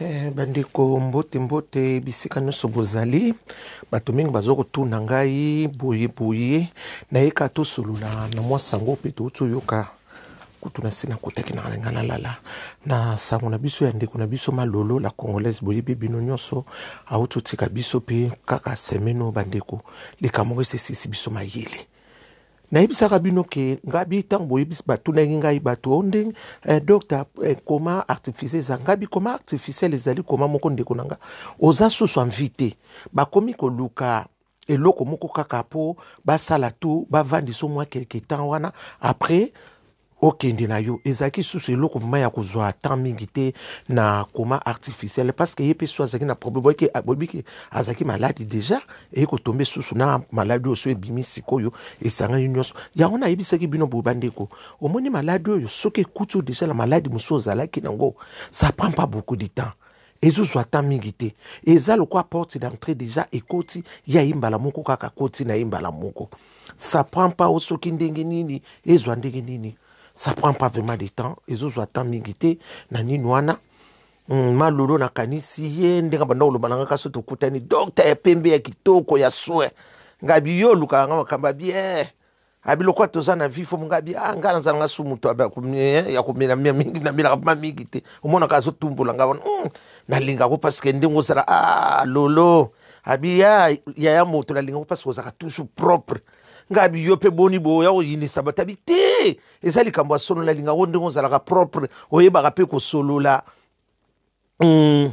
Eh, bandeko mbote mbote bisika nyonso bozali bato mingi baza kotuna ngai boye boye nayeka tosolola na mwa sango mpe touti oyoka kutu na nsi nakotaki na ngai nalala na sango na biso ya ndeko na biso malolo la congolaise boyebi bino nyonso auti otika biso mpe kaka semene oyo bandeko likambo moko esesisi biso mayele Nayebisaka bino ke ngabi ntango boyebisi batunaki ngai bato o ndenge eh, docteur eh, koma artificiel eza ngabi koma artificiel ezali koma moko ndeko na nga oza susu envie te bakomi koluka eloko moko kaka mpo basala tu bavandisa mwa quelque temps wana après okende na yo ezalaki susu eloko vrema ya kozwa temps mingi te na coma artificiel parce que ye mpe so azalaki na problème boyeke boyebike azalaki maladi déjà eye kotombe susu na maladi oyo so ebimi sikoyo esangani nyonso yango nayebisaki bino boye bandeko omoni maladi oyo soki ekuti oyo déjà na maladi mosusu ozalaki nango ça prend pas beaucoup de temps ezozwa temps mingi te eza lokola porte d'entrée déjà ekoti ya ye mbala moko kaka koti na ye mbala moko ça prend pas soki ndenge nini ezwa ndenge nini ça prend pas vraiment de temps ezozwa temps mingi te na nini wana hmm, malolo nakanisi ye ndenge banda koloba na nga kasi tokutani dokta ya pembe ya kitoko ya soin ngai biyo olukaka nga makambo ya bien abi lokola toza na vifo mongabi ah, ngai nazala nga su moto eh, ya komela mingi namelaka ma mingi te omonaka azotumbola ngai wana hmm, nalingako parceke ndenge ozala ah, lolo abi ya yaya moto nalingaka mpasi kozalaka toujours propre nga abi yo mpe boni boya koyinisa bato abi te eza likambo ya solo nalinga ngo ndenge ozalaka propre oyebaka mpe kosolola mm.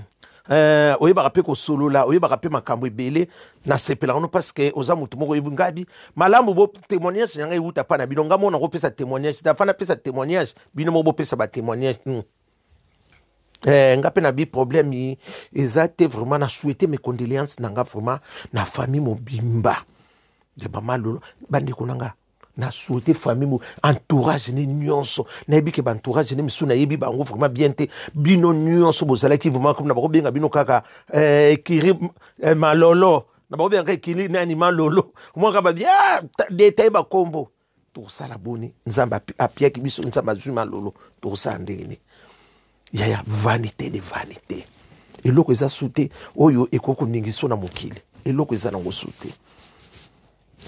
Euh, oyebaka mpe kosolola oyebaka mpe makambo ebele nasepelaka no parce que oza motu moko oyebi ngabi malamu bo témoignage na ngai ewuta mpa na bino ngai moko nakopesa témoignage dafa napesa témoignage bino moko bopesa batémoignage mm. Eh, nga mpe na bi problème eza te vraiment na souhaite mes condoléances na nga vraiment na famille mobimba ya mama lolo bandeko na nga na souhaite famille mo entourage ne nyonso nayebi ke baentourage ne misu nayebi bango vraiment bien te bino nyonso bozalaki vraiment comme na bakobenga bino kaka eh, kiri eh, malolo na bakobenga kaka kiri nani malolo omwaka babi ah, detaye bakombo Tokosala boni? Nzambe apiaki biso, Nzambe azwi malolo, tokosala ndenge nini? Yaya, vanite de vanite, eloko eza su te oyo ekoki koningiso na mokili, eloko eza nango su te,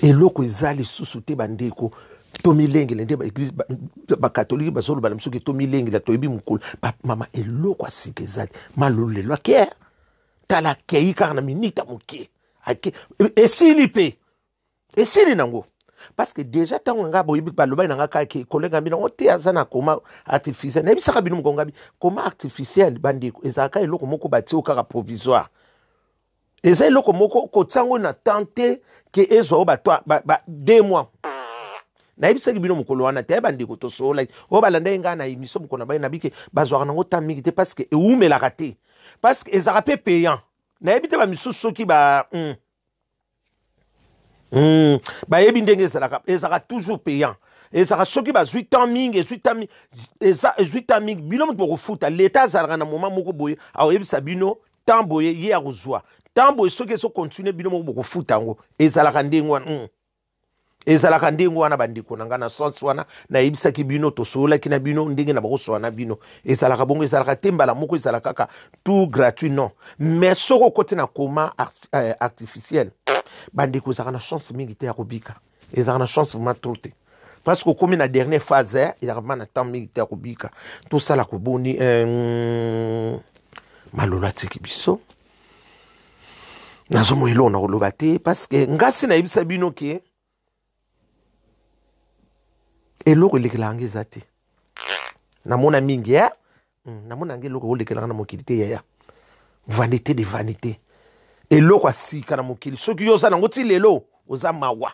eloko eza lisusu te bandeko tomilengele nde baeglise bakatolike bazolobala biso ke tomilengela toyebi mokolo mama eloko ya sika eza te malolo lelo ake tala akei kaka na minita moke ake esili mpe esili nango parce que déjà ntango na ngai boyebi balobaki na ngai kaka ke kolega bino yango te aza na koma artificiel nayebisaka bino moko ngabi koma artificiel bandeko ezalaka eloko moko batio kaka provisoire eza eloko moko kotia yango na temps te ke ezwa yo bato ba, ba, deux mois nayebisaki bino mokolo wana te bandeko tosololaki oyo balandaki ngai na émission mokolo na bai nabike bazwaka nango temps mingi te parce que eumelaka te parce que ezalaka mpe payant nayebi te bamisusu soki ba mm, Hmm. bayebi ndenge ezalaka ezalaka toujours payant ezalaka soki bazwi temps mingi ezwi temps mingi eza ezwi temps mingi bino moto bokofuta leta azalaka na moment moko boye akoyebisa bino temps boye ye akozwa temps boye soki ezokontinue bino moko bokofuta yango ezalaka ndenge wana hmm. ezalaka ndenge wana bandeko na ngai na sense wana nayebisaki bino tosololaki na bino ndenge na bakosola na bino ezalaka bongo ezalaka te mbala moko ezala kaka tout gratuit non mais soki okoti na coma euh, artificiel bandeko ezalaka na chance mingi te ya kobika ezalaka na chance vraiment trop te parce que okomi na dernière phase eh, ezalaka vraiment na temps mingi te ya kobika tosala koboni euh, malolo atiki biso nazomona eloko na koloba te parceke ngasi nayebisa bino ke eloko elekelaka nga eza te namona mingi ya hmm, namona nga eloko olekelaka na mokili te yaya vanité de vanité eloko ya sika na mokili soki yo oza nango ti lelo oza mawa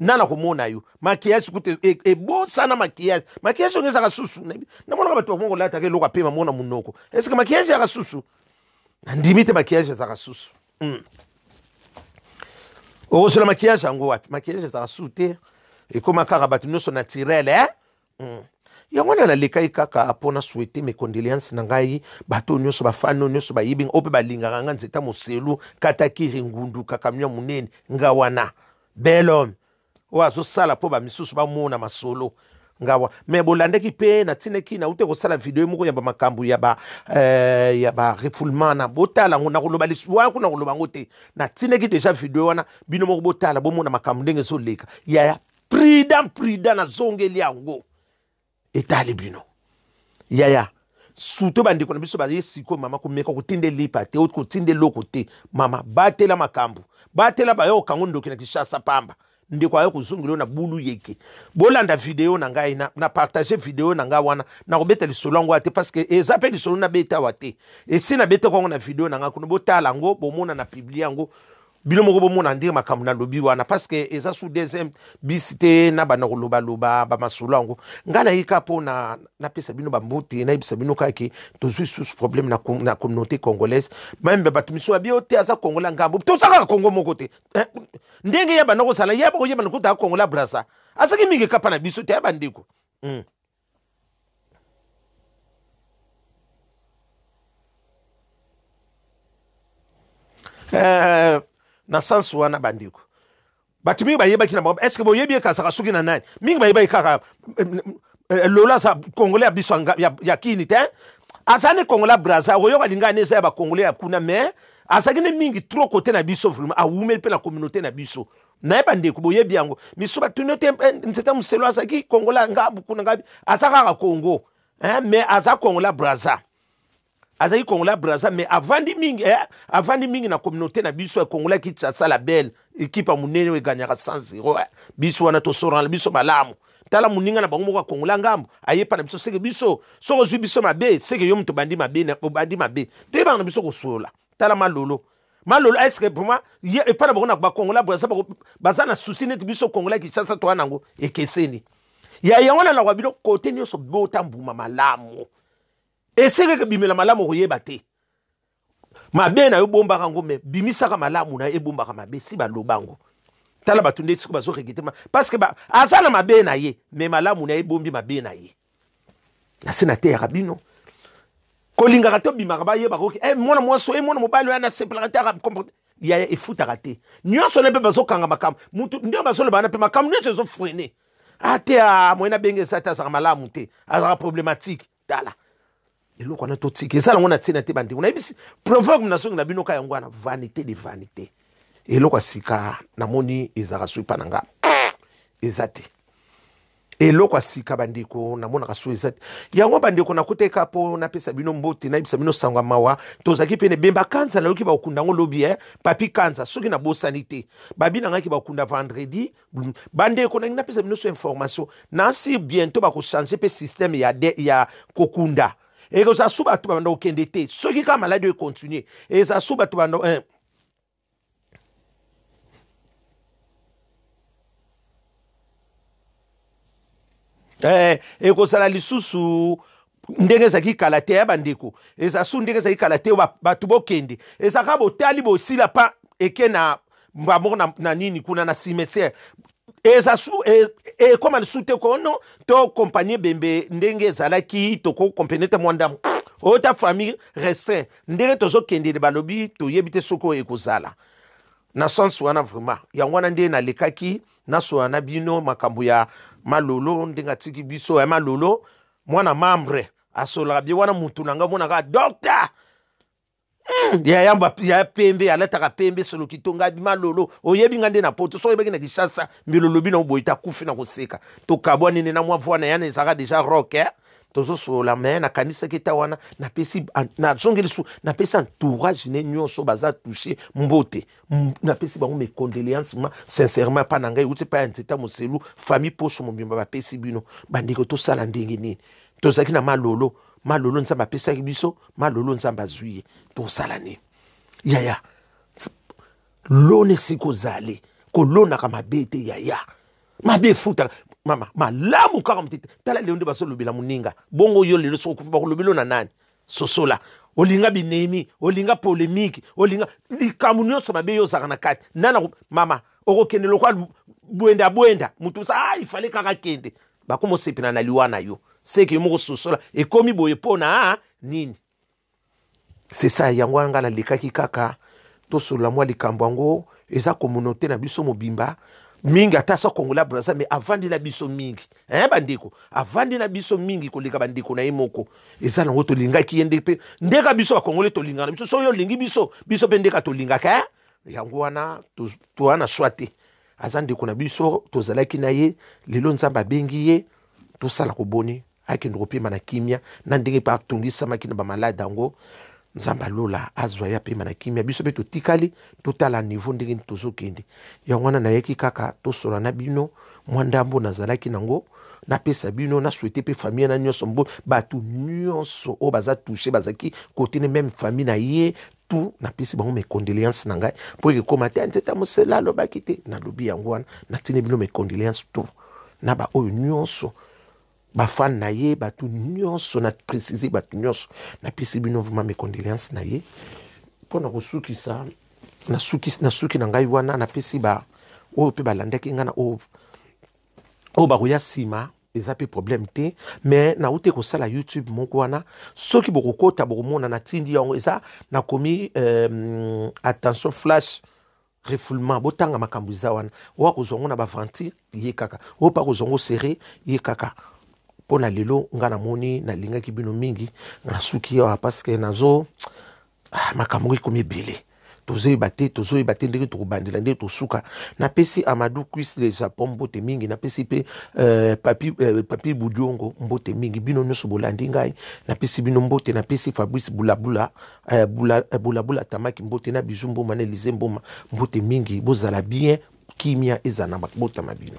nana komona yo maquillage kutu e- e- ebosana maquillage maquillage yango ezaka susu Nayebi- namonaka bato bakongo kolataka eloko apema mona monoko eske maquillage ezaka susu nandimi te maquillage ezaka susu Mm. okosela maquillage yango wapi maquillage ezaka susu te ekoma kaka bato nyonso naturel eh? Mm. yango wana nalekaki kaka mpo na souhaite mes condoléances na ngai bato oyo nyonso bafani oyo nyonso bayebi nga oyo mpe balingaka nga nzeta moselu katakiri ngundu kakamia monene nga wana bel homme oyo azosala mpo bamisusu bamona masolo nga wa me bolandaki mpe natindaki naute kosala video moko ya bamakambo ya ba eh, ya ba refoulement na botala yango nakoloba lisusu wana kuna nakoloba yango te natindaki deja video wana bino moko botala bomona makambo ndenge ezoleka yaya prida prida nazongeli yango etali bino yaya surtout bandeko na biso baye sikoyo mama komeka kotinda elipa te oti kotinda eloko te mama batela makambo batela baye okango ndoki na kishasa pamba ndeko aye kozongela na bulu yeke bolanda video na ngai na, na partage video na ngai wana nakobeta lisolo yango te parce que eza mpe lisolo nabeta awa te esi nabetaka yango na video na ngai kuna botala yango bomona na publie yango bino moko bomona nde makambo nalobi wana parceke eza su deuxième bisi te na banda kolobaloba bamasolo yango ngai naye kaka mpo na napesa bino bambote nayebisa bino kaka ke tozwi susu problème na, na communauté congolaise meme bato misu babi yo te aza kongola ngambo toza kaka kongo moko te eh, ndenge ya banda kozala ya bakoyebana kotaka kongola brasa azaki mingi kapa na biso te ya bandeko mm. Eh, na sens wana bandeko bato mingi bayebaki na bango estce boyebi ekasaka soki na nani mingi bayebaki kaka eh, eh, lola aza congolais ya biso ya kini te aza ne congolais ya braza okoyoka lingani eza ya bacongolais ya kuna mais azalaki ne mingi trop kote na biso vraiment awumeli mpe na communauté na biso naye bandeko boyebi yango misu batuni yo te eh, nzeta moselo azalaki kongola nga buku na ngai aza kaka kongo eh, mais aza kongola braza azalaki kongola braza mais avandi mingi eh, avandi mingi na communauté na biso ya kongola kinshasa la belle ekipa monene oyo eganyaka 100 zero eh. biso wana tosorana biso malamu tala moninga na bango moko akongola ngambo ayepa na biso seke biso soki ozwi biso mabe seke yo moto obandi mabe obandi mabe toyebaka na biso kosolola tala malolo malolo est ce que vraiment ye epai na bango na bakongola braza baza na susi neti biso kongola kinshasa toya nango ekeseni ya yango na naloba bino kote nyonso bota mbuma malamu esengeke ebimela malamu okoyeba te mabe na yo bombaka yango me bimisaka malamu na ye ebombaka mabe si baloba yango tala bato nde siko bazoregete parce que aza na mabe na ye me malamu na ye ebombi mabe na ye na se nateyaka bino kolingaka te obimaka bayebaka oke hey, eh, mwana mwasi oyo eh, mwana mobali oyo anasepelaka te akomporte yaya efutaka te nyonso ne mpe bazokanga makambo motu nde bazoloba wana mpe makambo nyonso ezofrene ate ah, ah, moyen abenge esa te azalaka malamu te azalaka problématique tala eloko wana totika eza nango na ntina te bandeko nayebisi proverbe nazongi na bino ka yango wana vanité de vanité eloko ya sika namoni ezalaka soki mpa na nga eza te eloko ya sika bandeko namonaka so eza te yango bandeko nakoteka mpo napesa bino mbote nayebisa bino sango ya mawa tozalaki pene bemba kanza nayoki bakokunda yango lobi e eh? papi kanza soki nabosani te babi na ngai ke bakokunda vendredi Mm. bandeko nangi napesa bino so information nasi bientôt bakochange mpe systeme ya, de, ya kokunda ekozala su bato babanda kokende te soki kaka maladi oyo econtinue ezala su bato banda eh. Eh, ekozala lisusu ndenge ezalaki kala te ya bandeko eza su ndenge ezalaki kala te bato bokende ezalaka botali bosila pa eke na mbamoko na, na nini kuna na cimetière eza su e, ekoma lisusu te kono to kompani ebembe ndenge ezalaki tokokompene te mwa ndambo oyo ta famille restreint ndenge tozokendele balobi toyebi te soki oyo ekozala na sens wana vraiment yango wana nde nalekaki nasola na bino makambo ya malolo ndenge atiki biso ya malolo mwana membre asololaka bie wana mutu na ngai omonaka docteur Hmm, ya yamba ya pembe alataka pembe solo kitonga bima lolo oyebi nga nde na poto soki oyebaki na kishasa mbilo lobi na oboyi takufi na koseka tokabwani nde na mwa voi na yana ezalaka deja rock eh? tozosolola me nakanisaki ta wana napesi nazongeli su napesi entourage ne nyonso baza touche mbote napesi bango mes condoléances ma sincèrement epa na ngai euti epai ya nzeta moselu famille poso mobimba bapesi bino bandeko tosala ndenge nini tozalaki na malolo malolo nzambe apesaki biso malolo nzambe azwi ye tosala nini yaya lona esika ozali kolonaka mabe te yaya mabe efutaka mama malamu kaka motete tala lelo nde bazolobela moninga bongo yo lelo soki okufi bakolobelo na nani sosola olinga binemi olinga polemiki olinga likambo nyonso mabe yo ozalaka na kati nana mama okokende lokola bwenda bwenda moto mosa ah, ifale kaka kende bakoma osepela na liwa na yo seke yo moko sosola ekomi boye mpo na ah, nini sesa yango wana ngai nalekaki kaka tosolola mwa likambo yango eza komunote na biso mobimba mingi ata sa kongola braza me avandi na biso mingi eh bandeko avandi na biso mingi koleka bandeko na ye moko eza nango tolingaki ye nde mpe ndeka biso bakongole tolingaka na biso soki olingi biso biso mpe ndeka tolingaka eh? yango wana toa na swa te aza ndeko na biso tozalaki na ye lelo nzambe abengi ye tosala koboni akende kopema na kimia na ndenge mpe atongisamaki na bamalade yango Nzambe ya lola azwa ye apema na kimia. Biso mpe totikali totala niveau ndenge nini tozokende. Yango wana nayaki kaka tosolola na bino mwa ndambo nazalaki nango napesa bino na souhaite mpe famille na nyonso mbo bato nyonso oyo baza touche bazalaki kote ne meme famille na ye tout napesi bango mes condoléances na ngai mpo ekekoma te nzeta mosela alobaki te nalobi yango wana natindi bino mes condoléances tout na baoyo nyonso ba fan na ye bato nyonso na précise bato nyonso napesi bino vraiment mes condoléances na ye mpo na kosukisa nasuki nasuki na ngai wana napesi ba oyo mpe balandaki ngai na oyo oyo bakoya nsima eza mpe problème te mais nauti kosala youtube moko wana soki bokokota bokomona natindi yango eza nakomi euh, attention flash refoulement botanga makambo eza wana oyo akozwa ngo na baventure ye kaka oyo mpe akozwa ngo serre ye kaka mpo na lelo ngai namoni nalingaki bino mingi nasuki awa parceke nazo ah, makambo ngo ekomi ebele tozoyeba te tozoyeba te ndenge tokobandela ndenge tosuka napesi amadou cuis le japon mbote mingi napesi mpe euh, papi, euh, papi budiongo mbote mingi bino nyonso bolandi ngai napesi bino mbote napesi fabrice bulabula Eh, bula, eh, bula bula tamaki mbote na bizu mboma na elize mboma mbote mingi bozala bien kimia ezala na mabota ma bino